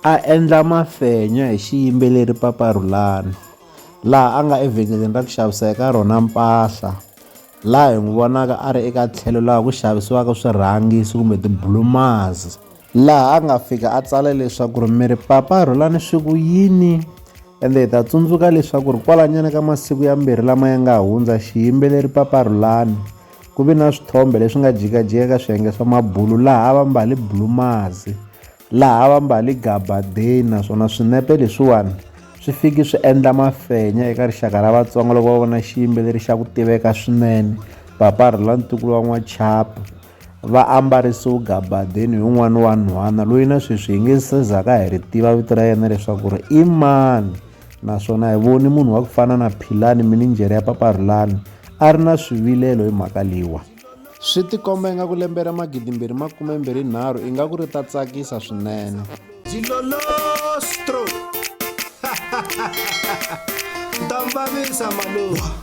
A endla mafenya hi xiyimbeleri Papa Rhulani laha a nga evhengeleni ra ku xavisa eka rona mpahla laha hi n'wi vonaka a ri eka tlhelo laha ku xavisiwaka swirhangisi kumbe tibulumazi laha a nga fika a tsala leswaku ri mi ri Papa Rhulani swi ku yini ende hi ta tsundzuka leswaku ri kwalanyana ka masiku yambirhi lama ya nga hundza xiyimbeleri Papa Rhulani ku vi na swithombe leswi nga jikajika ka swiyenge swa mabulu laha a va mbale bulumazi laha va mbali gabadeni naswona swinepe leswiwani swi fiki swi endla mafenya eka rixaka ra vatsonga loko va vona xiyimbeleri xa ku tiveka swinene papa rhula ntukulu wa n'wachapa va ambarisiwe gabadeni hi un'wana wa nhwana loyi na sweswi hi nge se zaka hi ri tiva vito ra yena leswaku ri i mani naswona hi voni munhu wa ku fana na philani minijere ya papa rhulani a ri na swivilelo hi mhaka leyiwa Swi tikomba ingaku lembe ra magidimbirhi makumembirhi nharhu ingaku ri ta tsakisa swinene. Jilolostro! Ndambavisa maluwa!